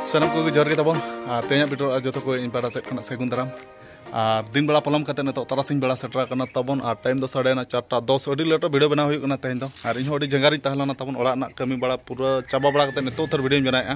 ᱥᱟᱱᱟᱢ ᱠᱚᱜᱮ ᱡᱚᱦᱟᱨ ᱜᱮ ᱛᱟᱵᱚᱱ ᱟᱨ ᱛᱮᱦᱮᱧᱟᱜ ᱵᱤᱴᱚᱨ ᱟᱨ ᱡᱚᱛᱚ ᱠᱚ ᱤᱧ ᱯᱟᱦᱴᱟ ᱥᱮᱫ ᱠᱷᱚᱱᱟᱜ ᱥᱟᱹᱜᱩᱱ ᱫᱟᱨᱟᱢ ᱟᱨ ᱫᱤᱱ ᱵᱮᱲᱟ ᱯᱚᱞᱚᱢ ᱠᱟᱛᱮ ᱱᱤᱛᱚᱜ ᱛᱟᱨᱟᱥᱤᱧ ᱵᱮᱲᱟ ᱥᱮᱴᱮᱨ ᱟᱠᱟᱱᱟ ᱛᱟᱵᱚᱱ ᱟᱨ ᱴᱟᱭᱤᱢ ᱫᱚ ᱥᱟᱰᱮᱭᱮᱱᱟ ᱪᱟᱨᱴᱟ ᱫᱚᱥ ᱟᱹᱰᱤ ᱞᱮᱴᱚ ᱵᱷᱤᱰᱤᱭᱳ ᱵᱮᱱᱟᱣ ᱦᱩᱭᱩᱜ ᱠᱟᱱᱟ ᱛᱮᱦᱮᱧ ᱫᱚ ᱟᱨ ᱤᱧ ᱦᱚᱸ ᱟᱹᱰᱤ ᱡᱟᱸᱜᱟ ᱨᱤᱧ ᱛᱟᱦᱮᱸ ᱞᱮᱱᱟ ᱛᱟᱵᱚᱱ ᱚᱲᱟᱜ ᱨᱮᱱᱟᱜ ᱠᱟᱹᱢᱤ ᱵᱟᱲᱟ ᱯᱩᱨᱟᱹ ᱪᱟᱵᱟ ᱵᱟᱲᱟ ᱠᱟᱛᱮ ᱱᱤᱛᱚᱜ ᱩᱛᱟᱹᱨ ᱵᱷᱤᱰᱤᱭᱳᱧ ᱵᱮᱱᱟᱣᱮᱫᱼᱟ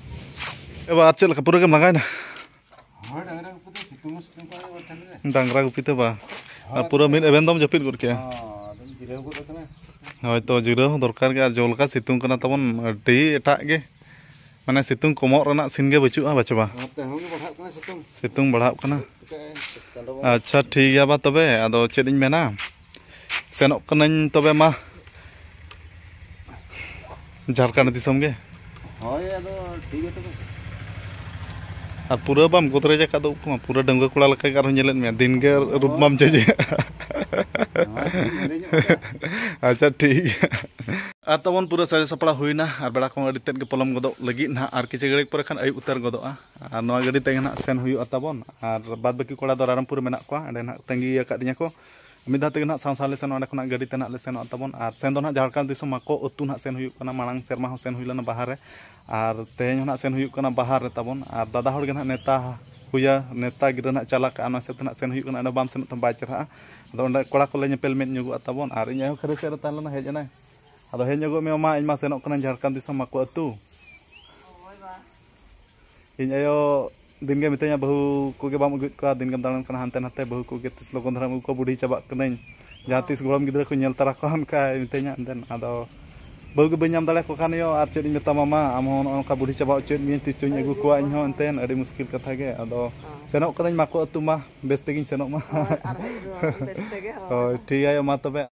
ᱮᱵᱟᱨ ᱪᱮᱫ ᱞᱮᱠᱟ ᱯᱩᱨᱟᱹ ᱜᱮᱢ ᱞᱟᱸᱜᱟᱭᱮᱱᱟ ᱰᱟᱝᱨᱟ ᱜᱩᱯᱤ ᱛᱮ ᱵᱟᱝ ᱟᱨ ᱯᱩᱨᱟᱹ ᱢᱤᱫ ᱮᱵᱷᱮᱱ ᱫᱚᱢ ᱡᱟᱹᱯᱤᱫ ᱜᱚᱫ ᱠᱮᱜᱼᱟ ᱦᱳᱭᱛᱚ ᱡᱤᱨᱟᱹᱣ ᱦᱚᱸ ᱫᱚᱨᱠᱟᱨ ᱜᱮ ᱟᱨ ᱡᱚ ᱞᱮᱠᱟ ᱥᱤᱛᱩᱝ ᱠᱟᱱᱟ ᱛᱟᱵᱚᱱ ᱟᱹᱰᱤ ᱮᱴᱟᱜ ᱜᱮ ᱢᱟᱱᱮ ᱥᱤᱛᱩᱝ ᱠᱚᱢᱚᱜ ᱨᱮᱱᱟᱜ ᱥᱤᱱ ᱜᱮ ᱵᱟᱹᱪᱩᱜᱼᱟ ᱵᱟᱪᱮ ᱵᱟᱝ ᱥᱤᱛᱩᱝ ᱵᱟᱲᱦᱟᱜ ᱠᱟᱱᱟ ᱟᱪᱪᱷᱟ ᱴᱷᱤᱠ ᱜᱮᱭᱟ ᱵᱟ ᱛᱚᱵᱮ ᱟᱫᱚ ᱪᱮᱫ ᱤᱧ ᱢᱮᱱᱟ ᱥᱮᱱᱚᱜ ᱠᱟᱹᱱᱟᱹᱧ ᱛᱚᱵᱮ ᱢᱟ ᱡᱷᱟᱲᱠᱷᱚᱸᱰ ᱫᱤᱥᱚᱢ ᱜᱮ ᱦᱳᱭ ᱟᱫᱚ ᱴᱷᱤᱠ ᱜᱮᱭᱟ ᱛᱚᱵᱮ ᱟᱨ ᱯᱩᱨᱟᱹ ᱵᱟᱢ ᱜᱚᱫᱨᱮᱡ ᱟᱠᱟᱫ ᱫᱚ ᱩᱵ ᱠᱚᱢᱟ ᱯᱩᱨᱟᱹ ᱰᱟᱺᱜᱩᱣᱟᱹ ᱠᱚᱲᱟ ᱞᱮᱠᱟ ᱜᱮ ᱟᱨᱦᱚᱸ ᱧᱮᱞᱮᱫ ᱢᱮᱭᱟ ᱫᱤᱱ ᱜᱮ ᱨᱩᱯ ᱢᱟᱢ ᱪᱮᱸᱡᱮ ᱟᱪᱪᱷᱟ ᱴᱷᱤᱠ ᱜᱮᱭᱟ ᱟᱨ ᱛᱟᱵᱚᱱ ᱯᱩᱨᱟᱹ ᱥᱟᱡᱟᱣ ᱥᱟᱯᱲᱟᱣ ᱦᱩᱭᱱᱟ ᱟᱨ ᱵᱮᱲᱟ ᱠᱚᱦᱚᱸ ᱟᱹᱰᱤ ᱛᱮᱫ ᱜᱮ ᱯᱚᱞᱚᱢ ᱜᱚᱫᱚᱜ ᱞᱟᱹᱜᱤᱫ ᱱᱟᱦᱟᱜ ᱟᱨ ᱠᱤᱪᱷᱩ ᱜᱷᱟᱹᱲᱤᱡ ᱯᱚᱨᱮ ᱠᱷᱟᱱ ᱟᱹᱭᱩᱵ ᱩᱛᱟᱹᱨ ᱜᱚᱫᱚᱜᱼᱟ ᱟᱨ ᱱᱚᱣᱟ ᱜᱟᱹᱰᱤ ᱛᱮᱜᱮ ᱱᱟᱦᱟᱜ ᱥᱮᱱ ᱦᱩᱭᱩᱜᱼᱟ ᱛᱟᱵᱚᱱ ᱟᱨ ᱵᱟᱫᱽ ᱵᱟᱹᱠᱤ ᱠᱚᱲᱟ ᱫᱚ ᱨᱟᱭᱨᱚᱝᱯᱩᱨ ᱨᱮ ᱢᱮᱱᱟᱜ ᱠᱚᱣᱟ ᱚᱸᱰᱮ ᱱᱟᱦᱟᱜ ᱛᱟᱺᱜᱤ ᱟᱠᱟᱫᱤᱧᱟᱹ ᱠᱚ ᱢᱤᱫ ᱫᱷᱟᱣ ᱛᱮᱜᱮ ᱱᱟᱦᱟᱜ ᱥᱟᱶ ᱥᱟᱶ ᱞᱮ ᱥᱮᱱᱚᱜᱼᱟ ᱚᱸᱰᱮ ᱠᱷᱚᱱᱟᱜ ᱜᱟᱹᱰᱤ ᱛᱮ ᱱᱟᱦᱟᱜ ᱞᱮ ᱥᱮᱱᱚᱜᱼᱟ ᱛᱟᱵᱚᱱ ᱟᱨ ᱥᱮᱱ ᱫᱚ ᱱᱟᱦᱟᱜ ᱡᱷᱟᱲᱠᱷᱚᱸᱰ ᱫᱤᱥᱚᱢ ᱢᱟᱠᱚ ᱟᱹᱛᱩ ᱱᱟᱦᱟᱜ ᱥᱮᱱ ᱦᱩᱭᱩᱜ ᱠᱟᱱᱟ ᱢᱟᱲᱟᱝ ᱥᱮᱨᱢᱟ ᱦᱚᱸ ᱥᱮᱱ ᱦᱩᱭ ᱞᱮᱱᱟ ᱵᱟᱦᱟ ᱨᱮ ᱟᱨ ᱛᱮᱦᱮᱧ ᱦᱚᱸ ᱱᱟᱦᱟᱜ ᱥᱮᱱ ᱦᱩᱭᱩᱜ ᱠᱟᱱᱟ ᱵᱟᱦᱟ ᱨᱮ ᱛᱟᱵᱚᱱ ᱟᱨ ᱫᱟᱫᱟ ᱦᱚᱲ ᱜᱮ ᱱᱟᱦᱟᱜ ᱱᱮᱣᱛᱟ ᱦᱩᱭᱟ ᱱᱮᱣᱛᱟ ᱜᱤᱨᱟᱹ ᱱᱟᱦᱟᱜ ᱪᱟᱞ ᱟᱠᱟᱫᱼᱟ ᱚᱱᱟ ᱦᱤᱥᱟᱹᱵᱽ ᱛᱮ ᱱᱟᱦᱟᱜ ᱥᱮᱱ ᱦᱩᱭᱩᱜ ᱠᱟᱱᱟ ᱚᱸᱰᱮ ᱵᱟᱢ ᱥᱮᱱᱚᱜ ᱛᱟᱢ ᱵᱟᱭ ᱪᱮᱨᱦᱟᱜᱼᱟ ᱟᱫᱚ ᱚᱸᱰᱮ ᱠᱚᱲᱟ ᱠᱚᱞᱮ ᱧᱮᱯᱮᱞ ᱢᱮᱫ ᱧᱚᱜᱚᱜᱼᱟ ᱛᱟᱵᱚᱱ ᱟᱨ ᱤᱧ ᱟᱭᱳ ᱦᱚᱸ ᱠᱷᱟᱹᱨᱟᱹᱭ ᱥᱮᱫ ᱨᱮ ᱛᱟᱦᱮᱸ ᱞᱮᱱᱟ ᱦᱮᱡ ᱮᱱᱟᱭ ᱟᱫᱚ ᱦᱮᱡ ᱧᱚᱜᱚᱜ ᱢᱮ ᱢᱟ ᱤᱧ ᱢᱟ ᱥᱮᱱᱚᱜ ᱠᱟᱹᱱᱟᱹᱧ ᱡᱷᱟᱲᱠᱷᱚᱸᱰ ᱫᱤᱥᱚᱢ ᱢᱟᱠᱚ ᱟᱹᱛᱩ ᱤᱧ ᱟᱭᱳ ᱫᱤᱱᱜᱮ ᱢᱤᱛᱟᱹᱧᱟ ᱵᱟᱹᱦᱩ ᱠᱚᱜᱮ ᱵᱟᱢ ᱟᱹᱜᱩᱭᱮᱫ ᱠᱚᱣᱟ ᱫᱤᱱᱜᱮᱢ ᱫᱟᱬᱟᱱ ᱠᱟᱱᱟ ᱦᱟᱱᱛᱮ ᱱᱟᱛᱮ ᱵᱟᱹᱦᱩ ᱠᱚᱜᱮ ᱛᱤᱥ ᱞᱚᱜᱚᱱ ᱫᱷᱟᱨᱟᱢ ᱟᱹᱜᱩ ᱠᱚᱣᱟ ᱵᱩᱰᱷᱤ ᱪᱟᱵᱟᱜ ᱠᱟᱹᱱᱟᱹᱧ ᱡᱟᱦᱟᱸ ᱛᱤᱥ ᱜᱚᱲᱚᱢ ᱜᱤᱫᱽᱨᱟᱹ ᱠᱚ ᱧᱮᱞ ᱛᱟᱨᱟ ᱠᱚᱣᱟ ᱚᱱᱠᱟᱭ ᱢᱤᱛᱟᱹᱧᱟ ᱫᱮᱱ ᱟᱫᱚ ᱵᱟᱹᱦᱩ ᱜᱮ ᱵᱟᱹᱧ ᱧᱟᱢ ᱫᱟᱲᱮᱭᱟᱠᱚ ᱠᱟᱱ ᱤᱭᱟᱹ ᱟᱨ ᱪᱮᱫ ᱤᱧ ᱢᱮᱛᱟᱢᱟ ᱢᱟ ᱟᱢ ᱦᱚᱸ ᱱᱚᱜᱼᱚ ᱱᱚᱝᱠᱟ ᱵᱩᱰᱷᱤ ᱪᱟᱵᱟ ᱚᱪᱚᱭᱮᱫ ᱢᱤᱭᱟᱹᱧ ᱛᱤᱥ ᱪᱚᱧ ᱟᱹᱜᱩ ᱠᱚᱣᱟ ᱤᱧ ᱦᱚᱸ ᱮᱱᱛᱮᱱ ᱟᱹᱰᱤ ᱢᱩᱥᱠᱤᱞ ᱠᱟᱛᱷᱟ ᱜᱮ ᱟᱫᱚ ᱥᱮᱱᱚᱜ ᱠᱟᱹᱱᱟᱹᱧ ᱢᱟᱠᱚ ᱟᱹᱛᱩ ᱢᱟ ᱵᱮᱥ ᱛᱮᱜᱤᱧ ᱥᱮᱱᱚᱜ ᱢᱟ ᱦᱳᱭ ᱴᱷᱤᱠ ᱜᱮᱭᱟ ᱢᱟ ᱛᱚᱵᱮ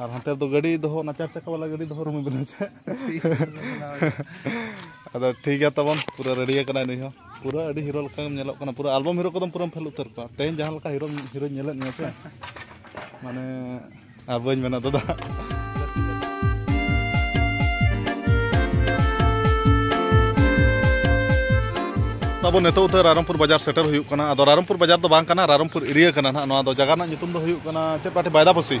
ᱟᱨ ᱦᱟᱱᱛᱮ ᱨᱮᱫᱚ ᱜᱟᱹᱰᱤ ᱫᱚᱦᱚ ᱚᱱᱟ ᱪᱟᱨ ᱪᱟᱠᱟ ᱵᱟᱞᱟ ᱜᱟᱹᱰᱤ ᱫᱚᱦᱚ ᱨᱩᱢ ᱵᱮᱱᱟᱣ ᱪᱮᱫ ᱟᱫᱚ ᱴᱷᱤᱠ ᱜᱮᱭᱟ ᱛᱟᱵᱚᱱ ᱯᱩᱨᱟᱹ ᱨᱮᱰᱤ ᱟᱠᱟᱱᱟᱭ ᱱᱩᱭ ᱦᱚᱸ ᱯᱩᱨᱟᱹ ᱟᱹᱰᱤ ᱦᱤᱨᱳ ᱞᱮᱠᱟ ᱜᱮᱢ ᱧᱮᱞᱚᱜ ᱠᱟᱱᱟ ᱯᱩᱨᱟᱹ ᱟᱞᱵᱚᱢ ᱦᱤᱨᱳ ᱠᱚᱫᱚᱢ ᱯᱩᱨᱟᱹᱢ ᱯᱷᱮᱞ ᱩᱛᱟᱹᱨ ᱠᱚᱣᱟ ᱛᱮᱦᱮᱧ ᱡᱟᱦᱟᱸ ᱞᱮᱠᱟ ᱦᱤᱨᱳ ᱦᱤᱨᱳᱧ ᱧᱮᱞᱮᱫ ᱢᱮᱭᱟ ᱥᱮ ᱢᱟᱱᱮ ᱟᱨ ᱵᱟᱹᱧ ᱢᱮᱱᱟ ᱫᱟᱫᱟ ᱛᱟᱵᱚ ᱱᱤᱛᱚᱜ ᱩᱛᱟᱹᱨ ᱨᱟᱭᱨᱚᱝᱯᱩᱨ ᱵᱟᱡᱟᱨ ᱥᱮᱴᱮᱨ ᱦᱩᱭᱩᱜ ᱠᱟᱱᱟ ᱟᱫᱚ ᱨᱟᱭᱨᱚᱝᱯᱩᱨ ᱵᱟᱡᱟᱨ ᱫᱚ ᱵᱟᱝ ᱠᱟᱱᱟ ᱨᱟᱭᱨᱚᱝᱯᱩᱨ ᱮᱨᱤᱭᱟ ᱠᱟᱱᱟ ᱱᱟᱦᱟᱜ ᱱᱚᱣᱟ ᱫᱚ ᱡᱟᱭᱜᱟ ᱨᱮᱱᱟᱜ ᱧᱩᱛᱩᱢ ᱫᱚ ᱦᱩᱭᱩᱜ ᱠᱟᱱᱟ ᱪᱮᱫ ᱯᱟᱴᱤ ᱵᱟᱭᱫᱟᱵᱚᱥᱤ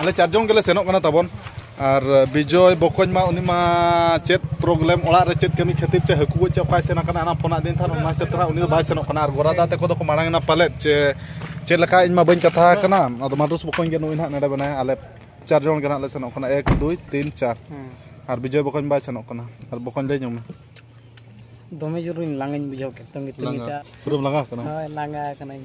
ᱟᱞᱮ ᱪᱟᱨ ᱡᱚᱱ ᱜᱮᱞᱮ ᱥᱮᱱᱚᱜ ᱠᱟᱱᱟ ᱛᱟᱵᱚᱱ ᱟᱨ ᱵᱤᱡᱚᱭ ᱵᱚᱠᱚᱧ ᱢᱟ ᱩᱱᱤ ᱢᱟ ᱪᱮᱫ ᱯᱨᱚᱵᱞᱮᱢ ᱚᱲᱟᱜ ᱨᱮ ᱪᱮᱫ ᱠᱟᱹᱢᱤ ᱠᱷᱟᱹᱛᱤᱨ ᱪᱮ ᱦᱟᱹᱠᱩ ᱜᱚᱡ ᱪᱮ ᱚᱠᱟᱭ ᱥᱮᱱ ᱟᱠᱟᱱᱟ ᱚᱱᱟ ᱯᱷᱳᱱ ᱟᱹᱫᱤᱧ ᱛᱟᱦᱮᱱ ᱚᱱᱟ ᱦᱤᱥᱟᱹᱵ ᱛᱮ ᱦᱟᱸᱜ ᱩᱱᱤ ᱫᱚ ᱵᱟᱭ ᱥᱮᱱᱚᱜ ᱠᱟᱱᱟ ᱟᱨ ᱜᱚᱨᱟᱫᱟ ᱛᱟᱠᱚ ᱫᱚᱠᱚ ᱢᱟᱲᱟᱝ ᱮᱱᱟ ᱯᱟᱞᱮᱫ ᱪᱮ ᱪᱮᱫ ᱞᱮᱠᱟ ᱤᱧ ᱢᱟ ᱵᱟᱹᱧ ᱠᱟᱛᱷᱟ ᱟᱠᱟᱱᱟ ᱟᱫᱚ ᱢᱟᱰᱩᱥ ᱵᱚᱠᱚᱧ ᱜᱮ ᱱᱩᱭ ᱦᱟᱸᱜ ᱱᱚᱰᱮ ᱢᱮᱱᱟᱭᱟ ᱟᱞᱮ ᱪᱟᱨ ᱡᱚᱱ ᱜᱮ ᱦᱟᱸᱜ ᱞᱮ ᱥᱮᱱᱚᱜ ᱠᱟᱱᱟ ᱮᱠ ᱫᱩᱭ ᱛᱤᱱ ᱪᱟᱨ ᱟᱨ ᱵᱤᱡᱚᱭ ᱵᱚᱠᱚᱧ ᱵᱟᱭ ᱥᱮᱱᱚᱜ ᱠᱟᱱᱟ ᱟᱨ ᱵᱚᱠᱚᱧ ᱞᱟᱹᱭ ᱧᱚᱜ ᱢᱮ ᱫᱚᱢᱮ ᱡᱳᱨᱤᱧ ᱞᱟᱸᱜᱟᱧ ᱵᱩᱡᱷᱟᱹᱣ ᱠᱮᱫ ᱛᱟᱹᱝᱜᱤ ᱛᱟᱹᱝᱜᱤ ᱛᱮ ᱞᱟᱸᱜᱟ ᱯᱩᱨᱟᱹᱢ ᱞᱟᱸᱜᱟ ᱟᱠᱟᱱᱟ ᱦᱳᱭ ᱞᱟᱸᱜᱟ ᱟᱠᱟᱱᱟᱹᱧ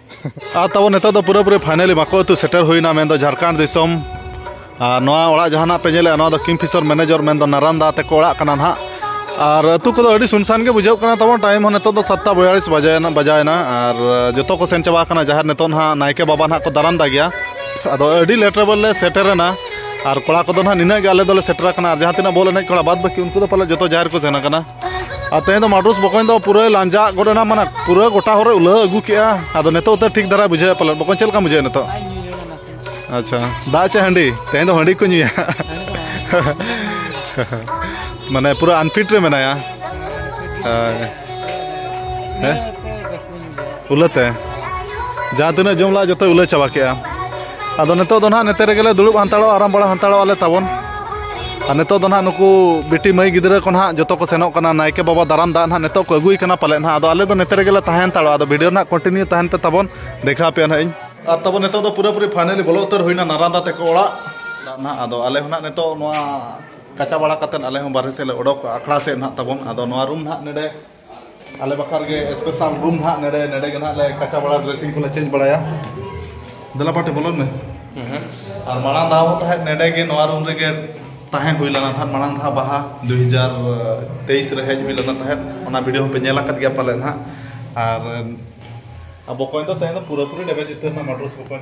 ᱟᱨ ᱛᱟᱵᱚ ᱱᱤᱛᱚᱜ ᱫᱚ ᱯᱩᱨᱟᱹᱯᱩᱨᱤ ᱯᱷᱟᱭᱱᱟᱞᱤ ᱵᱟᱠᱚ ᱟᱹᱛᱩ ᱥᱮᱴᱮᱨ ᱦᱩᱭᱱᱟ ᱢᱮᱱᱫᱚ ᱡᱷᱟᱲᱠᱷᱚᱸᱰ ᱫᱤᱥᱚᱢ ᱟᱨ ᱱᱚᱣᱟ ᱚᱲᱟᱜ ᱡᱟᱦᱟᱱᱟᱜ ᱯᱮ ᱧᱮᱞᱮᱜᱼᱟ ᱱᱚᱣᱟ ᱫᱚ ᱠᱤᱝᱯᱷᱤᱥᱚᱨ ᱢᱮᱱᱮᱡᱚᱨ ᱢᱮᱱᱫᱚ ᱱᱟᱨᱟᱱᱫᱟ ᱛᱮᱠᱚ ᱚᱲᱟᱜ ᱠᱟᱱᱟ ᱱᱟᱦᱟᱜ ᱟᱨ ᱟᱹᱛᱩ ᱠᱚᱫᱚ ᱟᱹᱰᱤ ᱥᱩᱱᱥᱟᱱ ᱜᱮ ᱵᱩᱡᱷᱟᱹᱜ ᱠᱟᱱᱟ ᱛᱟᱵᱚᱱ ᱴᱟᱭᱤᱢ ᱦᱚᱸ ᱱᱤᱛᱚᱜ ᱫᱚ ᱥᱟᱛᱴᱟ ᱵᱚᱭᱟᱞᱤᱥ ᱵᱟᱡᱟᱭᱮᱱᱟ ᱵᱟᱡᱟᱭᱮᱱᱟ ᱟᱨ ᱡᱚᱛᱚ ᱠᱚ ᱥᱮᱱ ᱪᱟᱵᱟ ᱠᱟᱱᱟ ᱡᱟᱦᱮᱨ ᱱᱤᱛᱚᱜ ᱱᱟᱦᱟᱜ ᱱᱟᱭᱠᱮ ᱵᱟᱵᱟ ᱱᱟᱦᱟᱜ ᱠᱚ ᱫᱟᱨᱟᱢ ᱫᱟ ᱜᱮᱭᱟ ᱟᱫᱚ ᱟᱹᱰᱤ ᱞᱮᱴ ᱨᱮᱵᱚᱱ ᱞᱮ ᱥᱮᱴᱮᱨᱮᱱᱟ ᱟᱨ ᱠᱚᱲᱟ ᱠᱚᱫᱚ ᱱᱟᱦᱟᱜ ᱱᱤᱱᱟᱹᱜ ᱜᱮ ᱟᱞᱮ ᱫᱚᱞᱮ ᱥᱮᱴᱮᱨ ᱟᱠᱟᱱᱟ ᱟᱨ ᱡᱟᱦᱟᱸ ᱛᱤᱱᱟᱹᱜ ᱵᱚᱞ ᱮᱱᱮᱡ ᱠᱚᱲᱟ ᱵᱟᱫ ᱵᱟᱹᱠᱤ ᱩᱱᱠᱩ ᱫᱚ ᱯᱟᱞᱮ ᱡᱚᱛᱚ ᱡᱟᱦᱮᱨ ᱠᱚ ᱥᱮᱱ ᱟᱠᱟᱱᱟ ᱟᱨ ᱛᱮᱦᱮᱧ ᱫᱚ ᱢᱟᱰᱩᱥ ᱵᱚᱠᱚᱧ ᱫᱚ ᱯᱩᱨᱟᱹ ᱞᱟᱸᱡᱟᱜ ᱜᱚᱫ ᱮᱱᱟ ᱢᱟᱱᱮ ᱯᱩᱨᱟᱹ ᱜᱚᱴᱟ ᱦᱚᱨᱮ ᱩᱞᱟᱹ ᱟᱹᱜᱩ ᱠᱮᱜᱼᱟ ᱟᱫᱚ ᱱᱤᱛᱚᱜ ᱛᱮ ᱴᱷᱤᱠ ᱫᱷᱟᱨᱟ ᱵᱩᱡᱷᱟᱹᱣᱮᱫ ᱯᱟᱞᱮᱱ ᱵᱚᱠᱚᱧ ᱪᱮᱫ ᱞᱮᱠᱟᱢ ᱵᱩᱡᱷᱟᱹᱣᱮᱫ ᱱᱤᱛᱚᱜ ᱟᱪᱪᱷᱟ ᱫᱟᱜ ᱪᱮ ᱦᱟᱺᱰᱤ ᱛᱮᱦᱮᱧ ᱫᱚ ᱦᱟᱺᱰᱤ ᱠᱚ ᱧᱩᱭᱟ ᱢᱟᱱᱮ ᱯᱩᱨᱟᱹ ᱟᱱᱯᱷᱤᱴ ᱨᱮ ᱢᱮᱱᱟᱭᱟ ᱦᱮᱸ ᱩᱞᱟᱹᱛᱮ ᱡᱟᱦᱟᱸ ᱛᱤᱱᱟᱹᱜ ᱡᱚᱢ ᱞᱟᱜᱼᱟ ᱡᱚᱛᱚᱭ ᱩᱞᱟᱹ ᱪᱟᱵᱟ ᱠᱮᱜᱼᱟ ᱟᱫᱚ ᱱᱤᱛᱚᱜ ᱫᱚ ᱱᱟᱦᱟᱜ ᱱᱚᱛᱮ ᱨᱮᱜᱮᱞᱮ ᱫᱩᱲᱩᱵ ᱦᱟᱱᱛᱟᱲᱚᱜᱼᱟ ᱟᱨᱟᱢ ᱵᱟᱲᱟ ᱦᱟᱱᱛᱟᱲᱚᱜ ᱟᱞᱮ ᱛᱟᱵᱚᱱ ᱟᱨ ᱱᱤᱛᱚᱜ ᱫᱚ ᱱᱟᱦᱟᱜ ᱱᱩᱠᱩ ᱵᱤᱴᱤ ᱢᱟᱹᱭ ᱜᱤᱫᱽᱨᱟᱹ ᱠᱚ ᱱᱟᱦᱟᱜ ᱡᱚᱛᱚ ᱠᱚ ᱥᱮᱱᱚᱜ ᱠᱟᱱᱟ ᱱᱟᱭᱠᱮ ᱵᱟᱵᱟ ᱫᱟᱨᱟᱢ ᱫᱟᱜ ᱱᱟᱦᱟᱜ ᱱᱤᱛᱚᱜ ᱠᱚ ᱟᱹᱜᱩᱭ ᱠᱟᱱᱟ ᱯᱟᱞᱮᱫ ᱱᱟᱦᱟᱜ ᱟᱫᱚ ᱟᱞᱮ ᱫᱚ ᱱᱚᱛᱮ ᱨᱮᱜᱮᱞᱮ ᱛᱟᱦᱮᱸ ᱦᱟᱱᱛᱟᱲᱚᱜᱼᱟ ᱟᱫᱚ ᱵᱷᱤᱰᱤᱭᱳ ᱱᱟᱦᱟᱜ ᱠᱚᱱᱴᱤᱱᱤᱭᱩ ᱛᱟᱦᱮᱱ ᱯᱮ ᱛᱟᱵᱚᱱ ᱫᱮᱠᱷᱟᱣ ᱟᱯᱮᱭᱟ ᱱᱟᱦᱟᱜ ᱤᱧ ᱟᱨ ᱛᱟᱵᱚᱱ ᱱᱤᱛᱚᱜ ᱫᱚ ᱯᱩᱨᱟᱹᱯᱩᱨᱤ ᱯᱷᱟᱭᱱᱟᱞᱤ ᱵᱚᱞᱚ ᱩᱛᱟᱹᱨ ᱦᱩᱭᱱᱟ ᱱᱟᱨᱟᱱᱫᱟ ᱛᱮᱠᱚ ᱚᱲᱟᱜ ᱫᱟᱜ ᱱᱟᱦᱟᱜ ᱟᱫᱚ ᱟᱞᱮ ᱦᱚᱸ ᱱᱟᱦᱟᱜ ᱱᱤᱛᱚᱜ ᱱᱚᱣᱟ ᱠᱟᱪᱟ ᱵᱟᱲᱟ ᱠᱟᱛᱮᱫ ᱟᱞᱮ ᱦᱚᱸ ᱵᱟᱨᱦᱮ ᱥᱮᱫ ᱞᱮ ᱚᱰᱚᱠᱚᱜᱼᱟ ᱟᱠᱷᱲᱟ ᱥᱮᱫ ᱱᱟᱦᱟᱜ ᱛᱟᱵᱚᱱ ᱟᱫᱚ ᱱᱚᱣᱟ ᱨᱩᱢ ᱱᱟᱦᱟᱜ ᱱᱚᱰᱮ ᱟᱞᱮ ᱵᱟᱠᱷᱟᱨ ᱜᱮ ᱥᱯᱮᱥᱟᱞ ᱨᱩᱢ ᱱᱟᱜ ᱱᱮᱰᱮ ᱱᱮᱰᱮ ᱜᱮ ᱱᱟᱜ ᱞᱮ ᱠᱟᱪᱟ ᱵᱟᱲᱟ ᱰᱨᱮᱥᱤᱝ ᱠᱚᱞᱮ ᱪᱮᱧᱡᱽ ᱵᱟᱲᱟᱭᱟ ᱫᱮᱞᱟ ᱯᱟᱴᱮ ᱵᱚᱞᱚᱱ ᱢᱮ ᱟᱨ ᱢᱟᱲᱟᱝ ᱫᱷᱟᱣ ᱦᱚᱸ ᱛᱟᱦᱮᱸᱫ ᱱᱮᱰᱮ ᱜᱮ ᱱᱚᱣᱟ ᱨᱩᱢ ᱨᱮᱜᱮ ᱛᱟᱦᱮᱸ ᱦᱩᱭ ᱞᱮᱱᱟ ᱛᱟᱦᱮᱸᱫ ᱢᱟᱲᱟᱝ ᱫᱷᱟᱣ ᱵᱟᱦᱟ ᱫᱩ ᱦᱟᱡᱟᱨ ᱛᱮᱭᱤᱥ ᱨᱮ ᱦᱮᱡ ᱦᱩᱭ ᱞᱮᱱᱟ ᱛᱟᱦᱮᱸᱫ ᱚᱱᱟ ᱵᱷᱤᱰᱤᱭᱳ ᱦᱚᱸᱯᱮ ᱧᱮᱞ ᱟᱠᱟᱫ ᱜᱮᱭᱟ ᱯᱟᱞᱮᱱ ᱦᱟᱸᱜ ᱟᱨ ᱟᱵᱚ ᱠᱚᱭ ᱫᱚ ᱛᱮᱦᱮᱧ ᱫᱚ ᱯᱩᱨᱟᱹᱯᱩᱨᱤ ᱰᱮᱢᱮᱡᱽ ᱩᱛᱟᱹᱨ ᱮᱱᱟ ᱢᱟᱴᱨᱚᱥ ᱠᱚ ᱠᱚᱭ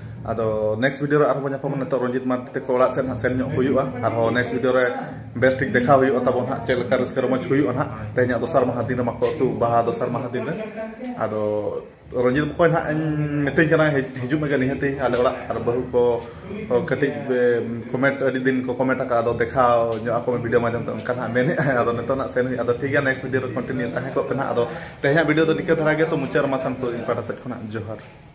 ᱟᱫᱚ ᱱᱮᱠᱥᱴ ᱵᱷᱤᱰᱤᱭᱳ ᱨᱮ ᱟᱨᱦᱚᱸ ᱵᱚᱱ ᱧᱟᱯᱟᱢᱟ ᱱᱤᱛᱚᱜ ᱨᱚᱧᱡᱤᱛ ᱢᱟᱨᱰᱤ ᱛᱮᱠᱚ ᱚᱲᱟᱜ ᱥᱮᱫ ᱦᱟᱸᱜ ᱥᱮᱱ ᱧᱚᱜ ᱦᱩᱭᱩᱜᱼᱟ ᱟᱨᱦᱚᱸ ᱱᱮᱠᱥᱴ ᱵᱷᱤᱰᱤᱭᱳ ᱨᱮ ᱵᱮᱥ ᱴᱷᱤᱠ ᱫᱮᱠᱷᱟᱣ ᱦᱩᱭᱩᱜᱼᱟ ᱛᱟᱵᱚᱱ ᱦᱟᱸᱜ ᱪᱮᱫ ᱞᱮᱠᱟ ᱨᱟᱹᱥᱠᱟᱹ ᱨᱚᱢᱚᱡᱽ ᱦᱩᱭᱩᱜᱼᱟ ᱦᱟᱸᱜ ᱛᱮᱦᱮᱧᱟᱜ ᱫᱚᱥᱟᱨ ᱢᱟᱦᱟ ᱫᱤᱱ ᱨᱮᱢᱟ ᱠᱚ ᱟᱹᱛᱩ ᱵᱟᱦᱟ ᱫᱚᱥᱟᱨ ᱢᱟᱦᱟ ᱫᱤᱱ ᱨᱮ ᱟᱫᱚ ᱨᱚᱧᱡᱤᱛ ᱵᱚᱠᱚᱭ ᱦᱟᱸᱜ ᱤᱧ ᱢᱤᱛᱟᱹᱧ ᱠᱟᱱᱟ ᱦᱤᱡᱩᱜ ᱢᱮᱜᱮ ᱱᱤᱦᱟᱹᱛᱤ ᱟᱞᱮ ᱚᱲᱟᱜ ᱟᱨ ᱵᱟᱹᱦᱩ ᱠᱚ ᱠᱟᱹᱴᱤᱡ ᱠᱚᱢᱮᱱᱴ ᱟᱹᱰᱤ ᱫᱤᱱ ᱠᱚ ᱠᱚᱢᱮᱱᱴ ᱟᱠᱟᱫ ᱟᱫᱚ ᱫᱮᱠᱷᱟᱣ ᱧᱚᱜ ᱟᱠᱚ ᱢᱮ ᱵᱷᱤᱰᱤᱭᱳ ᱢᱟᱫᱽᱫᱷᱚᱢ ᱛᱮ ᱚᱱᱠᱟ ᱦᱟᱸᱜ ᱢᱮᱱᱮᱫ ᱟᱫᱚ ᱱᱤᱛᱚᱜ ᱦᱟᱸᱜ ᱥᱮᱱ ᱦᱩᱭᱩᱜᱼᱟ ᱟᱫᱚ ᱴᱷᱤᱠ ᱜᱮᱭᱟ ᱱᱮᱠᱥᱴ ᱵᱷᱤᱰᱤᱭᱳ ᱨᱮ ᱠᱚᱱᱴᱤᱱᱤᱭᱩ ᱛᱟᱦᱮᱸ ᱠᱚᱜ ᱯᱮ ᱦᱟᱸᱜ ᱟᱫᱚ ᱛᱮᱦᱮᱧᱟᱜ ᱵᱷᱤᱰᱤᱭᱳ ᱫᱚ ᱱᱤᱠᱟᱹ ᱫᱷᱟᱨᱟ ᱜᱮ ᱛᱚ ᱢᱩᱪᱟᱹᱫ ᱨᱮᱢᱟ ᱥᱟᱱᱠᱩ ᱤᱧ ᱯᱟᱦᱴᱟ ᱥᱮᱫ ᱠᱷᱚᱱᱟᱜ ᱡᱚᱦᱟᱨ